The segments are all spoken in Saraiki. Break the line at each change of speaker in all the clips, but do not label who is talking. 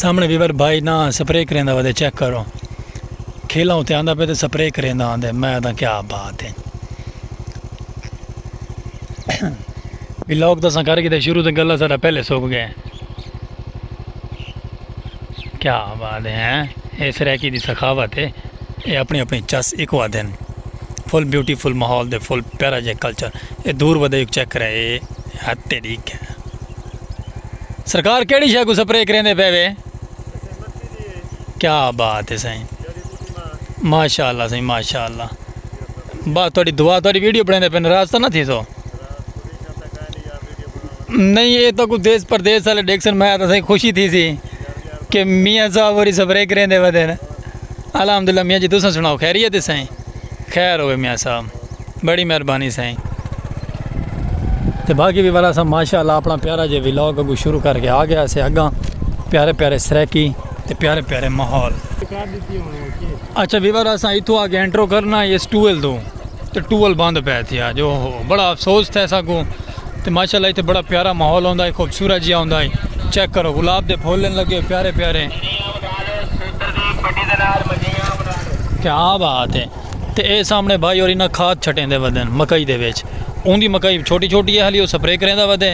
سامنڑے ویور بھائی نا سپرے کریندا ودے چیک کرو کھیلاں اتے آندا پے تے سپرے کریندا آندے میں آدھا کیا بات ہے ویلاگ تو اساں کر گئے شروع تے گلا سارا پہلے سوک گئے کیا بات ہے اے سرائیکی دی سخاوت ہے اے اپنی اپنی چس ایک وا دن فل بیوٹیفل ماحول دے فل پیارا جے کلچر اے دور ودے ایک چیک کرے اے ہتے ڈیک ہے سرکار کیڑی شے کوں سپرے کریندے پے وے کیا بات ہے سائیں ماشاء اللہ سائیں ماشاء اللہ بس تھوڑی دعا تھوڑی ویڈیو بنے پہ ناراض تو نہ تھی سو نہیں یہ تو کوئی دیس پردیس والے ڈیکسن میں تو سائیں خوشی تھی سی کہ میاں صاحب اور سپرے کریندے ودے الحمدللہ میاں جی تساں سناؤ خیریت ہے سائیں خیر ہوئے میاں صاحب بڑی مہربانی سائیں تے باقی بھی والا سا ماشاءاللہ اپنا پیارا جے ویلاگ اگو شروع کر کے آ گیا سے اگاں پیارے پیارے سریکی تے پیارے پیارے ماحول اچھا بھی والا سا ایتھو آگے انٹرو کرنا اس ٹویل دو تے ٹویل بند پہ تھیا جو ہو بڑا افسوس تھے سا کو تے ماشاءاللہ ایتھے بڑا پیارا ماحول ہوندا ہے خوبصورت جیا ہوندا ہے چیک کرو گلاب دے پھول لگے پیارے پیارے کیا بات ہے تے اے سامݨے بھائی ہور انہاں کھاد چھٹیندے ودن مکئی دے وچ اوندی مکئی چھوٹی چھوٹی ہالی او سپرے کریندا ودے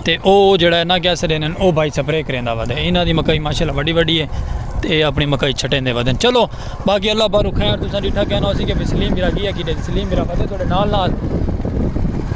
تے او جیڑا ہے نا کیا اسے ڈیندے او بھائی سپرے کریندا ودے انہاں دی مکئی ماشاءاللہ وڈی وڈی ہے تے اے اپݨی مکئی چھٹیندے ودن چلو باقی اللہ پاک خیر تساں ڈیٹھا کہنا ہوسی کہ سلیم بھرا گیا کیتے سلیم بھرا ودے تہاڈے نال نال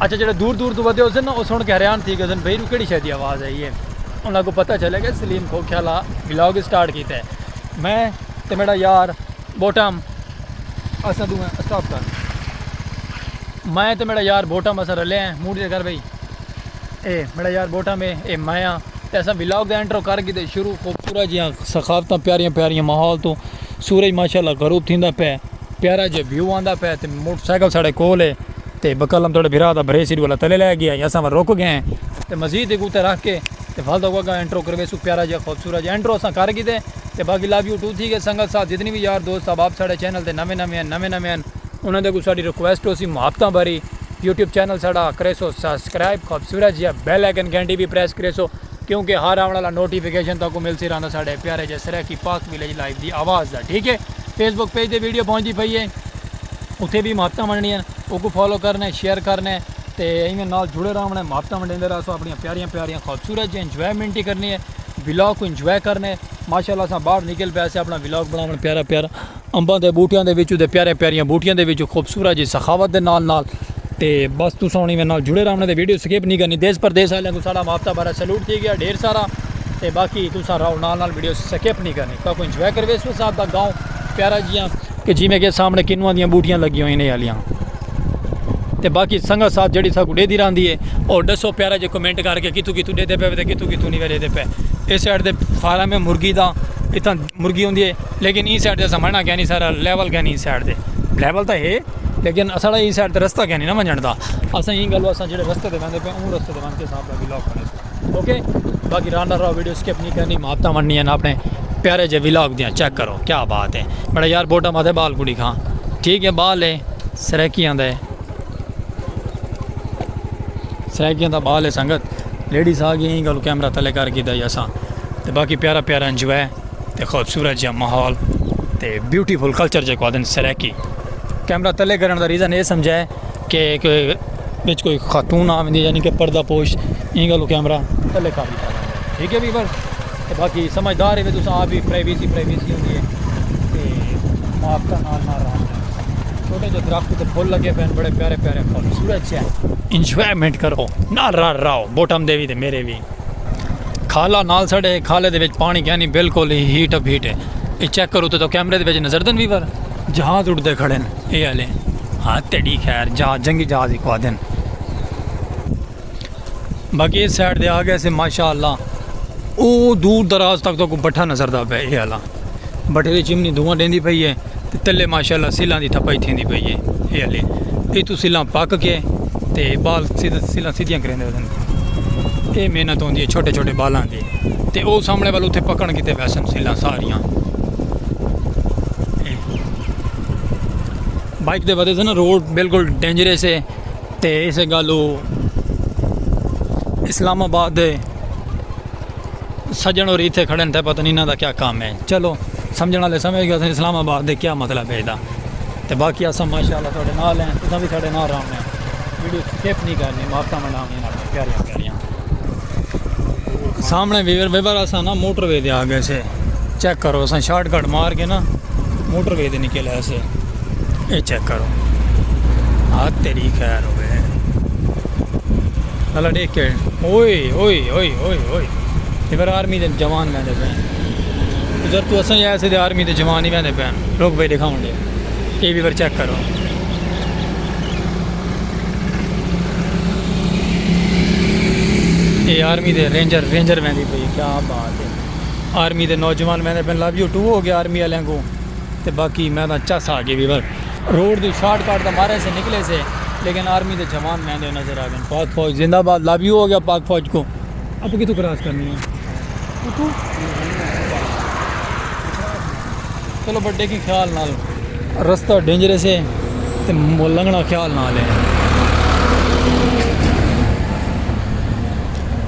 اچھا جیڑھے دور دور توں ودھے ہوسن نا او سن کے حیران تھی گئے ہوسن بھئی اینو کیڑی شے دی آواز آئی ہے انہاں کو پتہ چلے گئے سلیم کھوکھے والا ولاگ سٹارٹ کیتا ہے میں تے میڈا یار بوٹم اساں دوئے سٹاپ کر میں تے میڈا یار بوٹم اساں رلے ہیں موڈ دے کر بھئی اے میڈا یار بوٹم ہے اے میں ہاں تے اساں ولاگ دا انٹرو کر کیتے شروع خوبصورت جیاں ثقافتاں پیاریاں پیاریاں ماحول توں سورج ماشاءاللہ غروب تھیندا پے پیارا جیا ویو آندا پے تے موٹر سائیکل ساڑے کول ہے تے بکلم تہاڑے بھرا دا بھرے سیڈ والا تلے لے گیا یا ساں رک گئے ہیں تے مزید ایک اوتے رکھ کے تے ول دا گا انٹرو کروے سو پیارا جیا خوبصورت جیا انٹرو ساں کر گیتے تے باقی لو یو ٹو تھی گئے سنگت ساتھ جتنی بھی یار دوست احباب ساڑے چینل تے نویں نویں ہیں نویں نویں ہیں انہاں دے کو ساڑی ریکویسٹ ہو سی محبتاں بھری یوٹیوب چینل ساڑا کریسو سبسکرائب خوبصورت جیا بیل آئیکن گھنٹی بھی پریس کریسو کیونکہ ہر آونڑ آلا نوٹیفکیشن تہاکوں ملسی رہندا ساڈے پیارے جے سرائیکی پاک ویلیج لائیو دی آواز دا ٹھیک ہے فیس بک پیج تے ویڈیو پہنچدی پئی ہے اتھے وی محبتاں ونڈنیاں ہن اوکوں فالو کرنے شیئر کرنے تے ایویں نال جڑے راونڑے محبتاں ونڈیندے رہسو اپنیاں پیاریاں پیاریاں خوبصورت جیاں انجوائمنٹ ہی کرنی ہے ولاگ کوں انجوائے کرنے ماشاءاللہ اساں باہر نکل پئے سے اپنڑاں ولاگ بناونڑ پیارا پیارا۔ امباں دے بوٹیاں دے وچوں تے پیاریاں پیاریاں بوٹیاں دے وچوں خوبصورت جی سخاوت دے نال نال تے بس تساں ہن نال جڑے رہوݨ تے ویڈیو سکپ نی کرنی دیس پردیس آلیاں کوں ساݙا مافتہ بھرا سیلوٹ تھی ڳیا ڈھیر سارا تے باقی تساں رہو نال نال ویڈیو سکپ نی کرنی تاکو انجوائے کرویس او صاحب دا گاؤں پیارا جیاں کہ جیویں کہ سامنے کنواں دیاں بوٹیاں لگی ہوئیں نے آلیاں تے باقی سنگت ساتھ جڑی ساکو ڈے دی راندی ہے اور ڈسو پیارا جے کمنٹ کر کے کتھوں کتھوں ڈے دے پے تے کتھوں کتھوں نہیں ڈے دے پے اس سائیڈ تے فارم ہے مرغی دا اتھاں مرغی ہوندی ہے لیکن ایں سائیڈ تے اساں ونجنا کینی سارا لیول کینی ایں سائیڈ تے لیول تاں ہے لیکن اساڑا ایں سائیڈ تے رستہ کینی نہ ونجن دا اساں ایں گالو اساں جڑے رستے تے ویندے پے اوں رستے تے ون کے صاحب دا ولاگ بنے سو اوکے باقی راہ نہ راہ ویڈیو سکپ نہیں کرنی ماتا وننی ہیں اپنے پیارے جے ولاگ دیاں چیک کرو کیا بات ہے بڑا یار بوٹا ماتے بال کو دکھاں ٹھیک ہے بال ہے سریکی آندا ہے سریکی آندا بال ہے سنگت لیڈیز آ گئی ایں گالو کیمرہ تلے کر کے دا یا ساں تے باقی پیارا پیارا انجوائے تے خوبصورت جیہاں ماحول تے بیوٹیفل کلچر جے کو آدن سرائیکی کیمرہ تلے کرن دا ریزن اے سمجھا ہے کہ وچ کوئی خاتون آوندی ہے یعنی کہ پردہ پوش ایں گلو کیمرہ تلے کر دیتا ہے ٹھیک ہے بھی بس تے باقی سمجھدار ہے تساں آپ بھی پرائیویسی پرائیویسی ہوندی ہے تے آپ کا نال نال رہا چھوٹے جو درخت تے پھول لگے پین بڑے پیارے پیارے خوبصورت چین انجوائمنٹ کرو نال رہا رہو بوٹم دے بھی تے میرے بھی کھالا نال سڑے کھالے دے وچ پانی کینی بالکل ہی ہیٹ اپ ہیٹ ہے یہ چیک کرو تو کیمرے دے وچ نظر دن ویور جہاز اڑتے کھڑے ہیں یہ والے ہاں تیڑی خیر جہاز جنگی جہاز ہی کھوا دین باقی اس سائڈ دے آ گئے سے ماشاءاللہ او دور دراز تک تو کو بٹھا نظر دا پہ یہ والا بٹھے دی چمنی دھواں ڈیندی پئی ہے تے تلے ماشاءاللہ سلاں دی تھپائی تھیندی پئی ہے اے ہلے اے تو سلاں پک کے تے بال سلاں سیدھیاں کریندے ودن اے محنت ہوندی ہے چھوٹے چھوٹے بالاں دی تے او سامنے والو تے پکن کیتے ویسن سلاں ساریاں بائک دے ودے سن روڈ بالکل ڈینجرس ہے تے اسے گالو اسلام آباد دے سجن اور ایتھے کھڑے تھے پتہ نہیں انہاں دا کیا کام ہے چلو سمجھنا لے سمجھ گیا اسلام آباد دے کیا مطلب ہے دا تے باقی اساں ماشاءاللہ تھوڑے نال ہیں تساں بھی تھوڑے نال رہنے ویڈیو سکپ نہیں کرنی ماتا منا میں نال پیارے پیارے سامنے ویور ویور اساں نا موٹر وے دے آ گئے سے چیک کرو اساں شارٹ کٹ مار کے نا موٹر وے دے نکل آئے سے اے چیک کرو ہاتھ تیری خیر ہوئے اللہ ڈے کے اوئے اوئے اوئے اوئے اوئے یہ میرا آرمی دے جوان میں دے پین ادھر تو اساں یہ ایسے دے آرمی دے جوان ہی میں دے پین روک بھائی دکھاؤں دے یہ بھی بر چیک کرو یہ آرمی دے رینجر رینجر میں دے پین کیا بات ہے آرمی دے نوجوان میں دے پین لابیو ٹو ہو گیا آرمی علیہ کو تے باقی میں تاں چس آ گیوی بس روڈ دی شارٹ کٹ دا مارے سے نکلے سے لیکن آرمی دے جوان میں دے نظر آ گن پاک فوج زندہ باد لابی ہو گیا پاک فوج کو اپ کتھوں کراس کرنی ہے اتھوں چلو بٹ دیکھیں خیال نال رستہ ڈینجرے سے تے لنگنا خیال نال ہے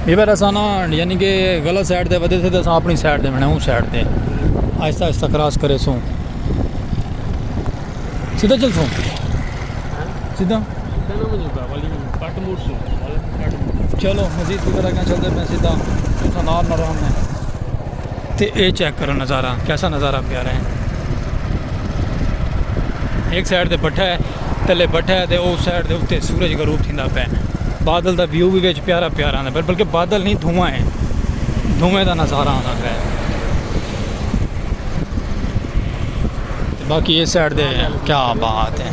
یہ بار اساں نا یعنی کہ غلط سائیڈ تے ودے تھے تو اساں اپنی سائیڈ تے بنا ہوں سائیڈ تے آہستہ آہستہ کراس کرے سوں سیدھا چل سوں سیدھا چلو مزید کی طرح کیا چلتے میں سیدھا سنار نرام میں تے اے چیک کرو نظارہ کیسا نظارہ پیارا ہے ایک سائیڈ تے بٹھا ہے تلے بٹھا ہے تے او سائیڈ دے اوتے سورج غروب تھیندا پے بادل دا ویو بھی وچ پیارا پیارا آندا پر بلکہ بادل نہیں دھواں ہے دھویں دا نظارہ آندا پے باقی اے سائیڈ دے کیا بات ہے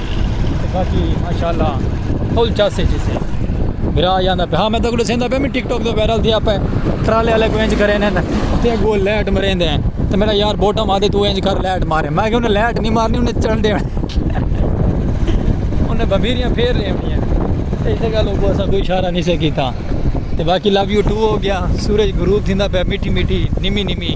باقی ماشاءاللہ فل چس وچ سے بھرا جاندا پہ ہاں میں تکڑے سیندا پہ میں ٹک ٹاک دے وائرل تھیا پہ ٹرالے والے کو انج کرے نے تے گول لائٹ مریندے ہیں تے میرا یار بوٹا ماں دے تو انج کر لائٹ مارے میں کہ انہیں لائٹ نہیں مارنی انہیں چڑھ دے انہیں بمیریاں پھیر لے ہوئی ہیں اس جگہ لوگوں اسا کوئی اشارہ نہیں سے کیتا تے باقی لو یو ٹو ہو گیا سورج غروب تھیندا پہ میٹھی میٹھی نیمی نیمی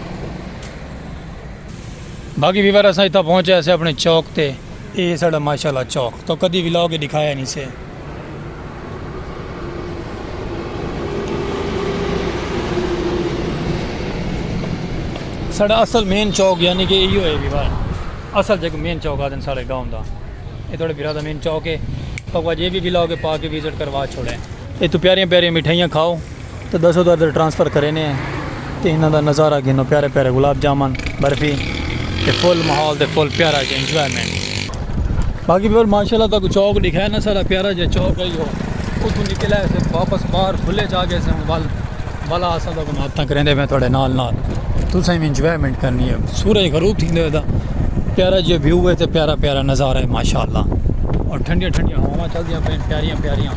باقی ویور اساں اتھا پہنچے اسے اپنے چوک تے اے سڑا ماشاءاللہ چوک تو کدی ولاگ کے دکھایا نہیں سے سڑا اصل مین چوک یعنی کہ ایو ہے ویور اصل جگ مین چوک آدن سڑے گاؤں دا اے تھوڑے بیرا دا مین چوک ہے تو وہ جے بھی ولاگ کے پا کے ویزٹ کروا چھوڑے اے تو پیاریاں پیاریاں مٹھائیاں کھاؤ تے دس ادھر ادھر ٹرانسفر کرینے ہیں تے انہاں دا نظارہ گھنو پیارے پیارے گلاب جامن برفی تے فل ماحول تے فل پیارا جی انجوائمنٹ باقی پھر ماشاءاللہ تاکو چوک دکھایا نا سارا پیارا جی چوک ہے ہو اتھوں نکلا ہے سے واپس باہر کھلے جا گئے سے ول والا اساں تاکو ماتاں کریندے میں تھوڑے نال نال تساں بھی انجوائمنٹ کرنی ہے سورج غروب تھیندے ہوئے دا پیارا جی ویو ہے تے پیارا پیارا نظارہ ہے ماشاءاللہ اور ٹھنڈیاں ٹھنڈیاں ہواواں چلدیاں پین پیاریاں پیاریاں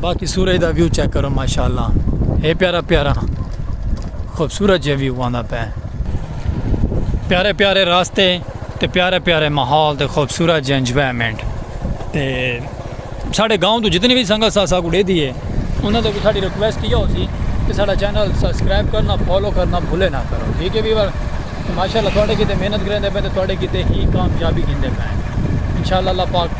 باقی سورج دا ویو چیک کرو ماشاءاللہ اے پیارا پیارا خوبصورت جے ویو آندا پے پیارے پیارے راستے تے پیارے پیارے ماحول تے خوبصورت جے انجوائمنٹ تے ساڈے گاؤں تو جتنی بھی سنگت سا ساکو دے دیے انہاں تو ساڈی ریکویسٹ کیا ہو سی کہ ساڈا چینل سبسکرائب کرنا فالو کرنا بھولے نہ کرو ٹھیک ہے ویور ماشاءاللہ تواڈے کیتے محنت کریں دے پے تے تواڈے کیتے ہی کامیابی گھندے پے انشاءاللہ اللہ پاک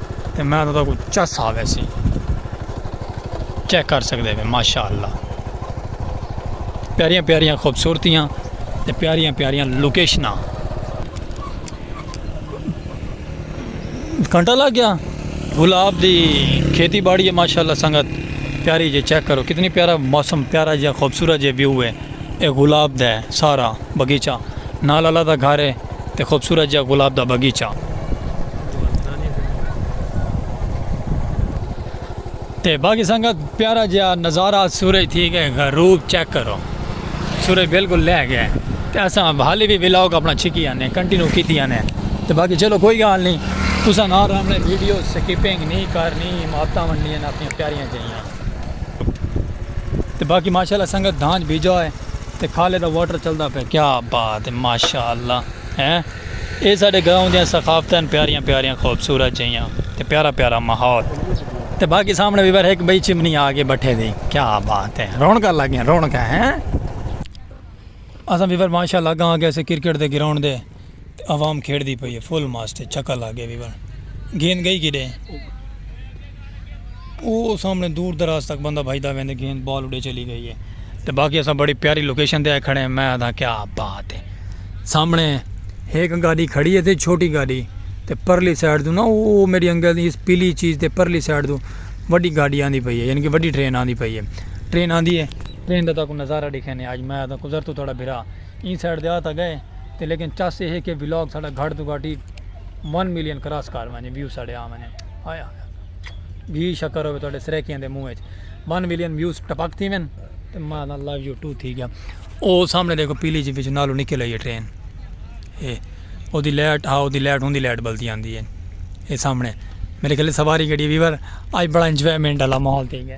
تے میں تہاڈا کوئی چس آ ویسی چیک کر سکدے میں ماشاءاللہ پیاریاں پیاریاں خوبصورتیاں تے پیاریاں پیاریاں لوکیشناں گھنٹہ لگ گیا گلاب دی کھیتی باڑی ہے ماشاءاللہ سنگت پیاری جی چیک کرو کتنی پیارا موسم پیارا جی خوبصورت جی ویو ہے اے گلاب دے سارا بغیچہ نال اللہ دا گھر اے تے خوبصورت جیہا گلاب دا بغیچہ تے باقی سنگت پیارا جیہا نظارہ سورج تھی گئے غروب چیک کرو سورج بالکل لہ گیا تے اساں حالی بھی ولاگ اپنا چھکی آنے کنٹینیو کیتی آنے تے باقی چلو کوئی گال نہیں تساں نال رہنے ویڈیو سکیپنگ نہیں کرنی ماتاں ونڈیاں اپنی پیاریاں جائیاں تے باقی ماشاءاللہ سنگت دھانج بھیجا ہے تے کھالے دا واٹر چلدا پہ کیا بات ہے ماشاءاللہ ہیں اے ساڈے گاؤں دیاں ثقافتاں پیاریاں پیاریاں خوبصورت جیاں تے پیارا پیارا ماحول تے باقی سامنے بھی ور ایک بئی چمنی آ کے بیٹھے دی کیا بات ہے رونکاں لگیاں رونکاں ہیں اساں بھی ور ماشاءاللہ گاں گئے سے کرکٹ دے گراؤنڈ دے تے عوام کھیڈدی پئی اے فل ماسٹ اے چھکا لگ گئے ویون گیند گئی کڈے او سامنے دور دراز تک بندہ بھجدا ویندے گیند بال اڈے چلی گئی اے تے باقی اساں بڑی پیاری لوکیشن تے آئے کھڑے ہیں میں آدھا کیا بات اے سامنے ہیک گاڈی کھڑی اے تے چھوٹی گاڈی تے پرلی سائیڈ توں نا او میڈی انگل دی اس پیلی چیز تے پرلی سائیڈ توں وڈی گاڈی آندی پئی اے یعنی کہ وڈی ٹرین آندی پئی اے ٹرین آندی اے ٹرین دا تاکوں نظارہ ڈیکھینے آج میں آدھا قدرت تہاڈا بھرا۔ ایں سائٹ دے آ تاں گئے تے لیکن چس ایہہ کہ ولاگ ساڈا گھٹ توں گھٹ ای ون ملین کراس کر ونجے ویو ساڈے آ ونجن ہائے ہائے گھی شکر ہووے تہاڈے سرائیکیاں دے منہ اچ ون ملین ویوز ٹپک تھی ون تے ماں دا لو یو ٹو تھی گیا او سامنے دیکھو پیلی جی وچ نالو نکل آئی ہے ٹرین اے او دی لائٹ ہا او دی لائٹ ہوں دی لائٹ بلدی آندی ہے اے سامنے میرے خیال سواری گڈی ویور آج بڑا انجوائمنٹ والا ماحول تھی گیا۔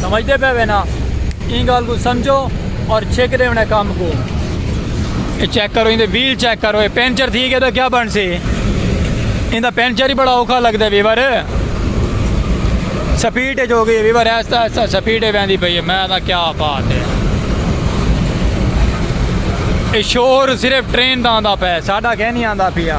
سمجھدے پے وے نا این گال کو سمجھو اور چھک دے انہیں کام کو اے چیک کرو اندے ویل چیک کرو اے پینچر تھی گئے تو کیا بن سی اندہ پینچر ہی بڑا اوکھا لگ دے ویور سپیٹ ہے جو گئی ویور ایسا ایسا سپیٹ ہے بیندی پہی ہے میں دا کیا بات ہے اے شور صرف ٹرین دا آندہ پہ ساڑھا کہنی آندہ پیا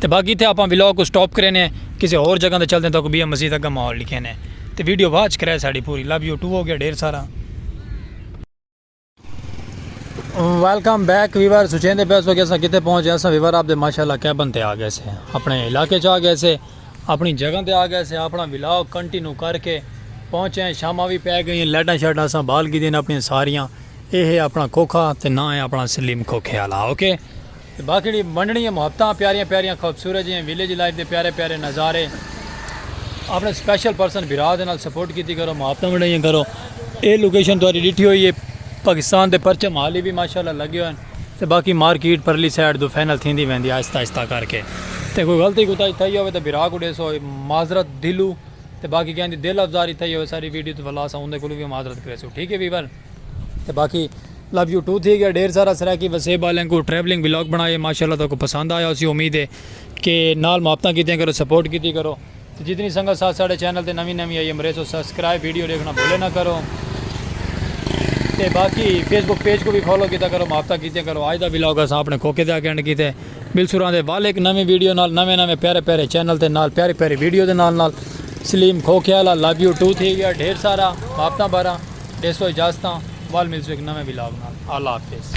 تے باقی تھے اپاں ولاگ کو سٹاپ کرے نے کسے اور جگہ تے چل دیں تو کو بیا مزید اگا ماحول لکھے نے تے ویڈیو واچ کرے ساڑی پوری لب یو ٹو ہو گیا ڈھیر سارا ویلکم بیک ویور سچیں دے پیسو کہ اساں کتے پہنچ جائے ساں ویور آپ دے ماشاءاللہ کیبن تے آ گئے سے اپنے علاقے چاہ گئے سے اپنی جگہ تے آ گئے سے اپنا ولاگ کنٹینیو کر کے پہنچے ہیں شامہ بھی پہ گئی ہیں لیٹا شیٹا ساں بال کی دین اپنی ساریاں اے ہے اپنا کوکھا تے نہ ہے اپنا سلیم کوکھے آلا اوکے okay? تے باقی جیڑھی ونڈنی اے محبتاں پیاریاں پیاریاں خوبصورت جیاں ویلیج لائف دے پیارے پیارے نظارے اپنے سپیشل پرسن بھرا دے نال سپورٹ کیتی کرو محبتاں ونڈائیاں کرو اے لوکیشن تہاڈی ڈٹھی ہوئی اے پاکستان دے پرچم حالی وی ماشاءاللہ لگے ہوئے تے باقی مارکیٹ پرلی سائیڈ توں فائنل تھیندی ویندی آہستہ آہستہ کر کے تے کوئی غلطی کوتاہی تھئی ہووے تے بھرا کوں ڈیسو معذرت دلوں تے باقی کہیں دی دل افزاری تھئی ہووے ساڈی ویڈیو توں ولا اساں اوندے کولوں وی معذرت کریسوں ٹھیک اے ویور۔ تے باقی لو یو ٹو تھی گیا ڈھیر سارا سرائیکی وسیب والیں کو ٹریولنگ ولاگ بنائے ماشاءاللہ تو کو پسند آیا اسی امید ہے کہ نال محبتاں کیتیاں کرو سپورٹ کیتی کرو جتنی سنگت ساتھ ساڑھے چینل تے نوی نوی آئی امریس و سبسکرائب ویڈیو دیکھنا بھولے نہ کرو تے باقی فیس بک پیج کو بھی فالو کیتا کرو محبتاں کیتیاں کرو آج دا ولاگ اساں اپنے کوکے دے آگے انڈ کیتے بلسوراں دے وال ایک نویں ویڈیو نال نویں نویں پیارے پیارے چینل تے نال پیاری پیاری ویڈیو دے نال نال سلیم کھوکھیالا لو یو ٹو تھی گیا ڈھیر سارا محبتاں بھرا ڈیسو اجازتاں وال ملسوں ایک نویں ولاگ نال اللہ حافظ۔